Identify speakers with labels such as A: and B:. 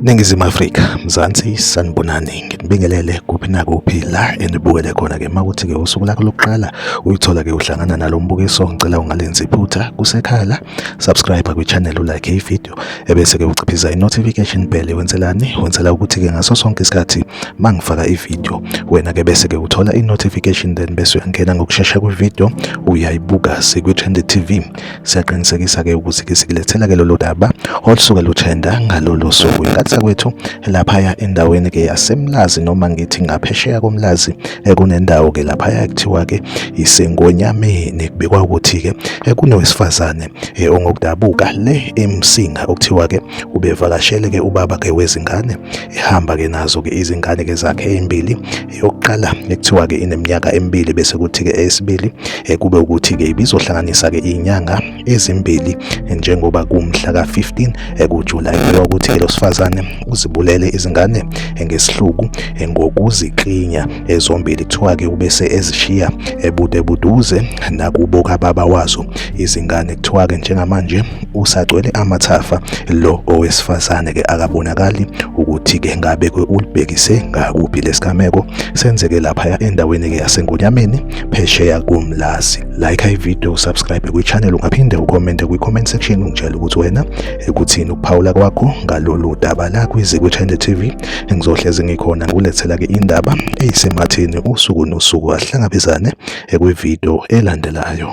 A: Ningizimu Afrika, Mzansi sanibonani, nginibingelele kuphi nakuphi la enibukele khona ke makuthi ke usuku lakho lokuqala uyithola ke uhlangana nalo mbukiso ngicela ungalenzi iphutha kusekhala subscribe kwichannel ulike ivideo ebese-ke uciphiza i-notification bell wenzelani wenzela ukuthi-ke ngaso sonke isikhathi uma ngifaka ivideo wena-ke bese-ke uthola i-notification then bese uyangena ngokushesha kwivideo uyayibuka sikwi-trend tv siyaqinisekisa-ke ukuthi-ke sikulethela-ke lolu daba olusuke luthenda ngalolo suku inkathi sakwethu laphaya endaweni ke yasemlazi noma ngithi ngaphesheya komlazi eh, kunendawo ke laphaya kuthiwa ke isengonyameni kubikwa ukuthi ke eh, kunowesifazane eh, ongokudabuka le emsinga okuthiwa ke ubevakashele ke ubaba ke wezingane ehamba ke nazo ke izingane ke zakhe ezimbili yokuqala ekuthiwa ke ineminyaka emibili bese kuthi ke esibili kube ukuthi ke ibizohlanganisa ke inyanga ezimbili njengoba kumhla ka-15 ekuJulayi kubikwa ukuthi lo sifazane uzibulele izingane ngesihluku ngokuziklinya ezombili kuthiwa-ke ubese ezishiya ebude buduze nakubo kababa wazo izingane kuthiwa-ke njengamanje usagcwele amathafa lo owesifazane-ke akabonakali ukuthi-ke ngabe ulibhekise ngakuphi lesigameko senzeke laphaya endaweni-ke yasengonyameni phesheya komlazi like ivideo usubscribe kwichannel ungaphinde ucommente kwi-comment section ungitshela ukuthi wena ekuthini ukuphawula kwakho ngalolu daba la kwize kwichannel tv ngizohlezi ngikhona ngikulethelake indaba eyisematheni usuku nosuku ahlangabezane ekwivideo elandelayo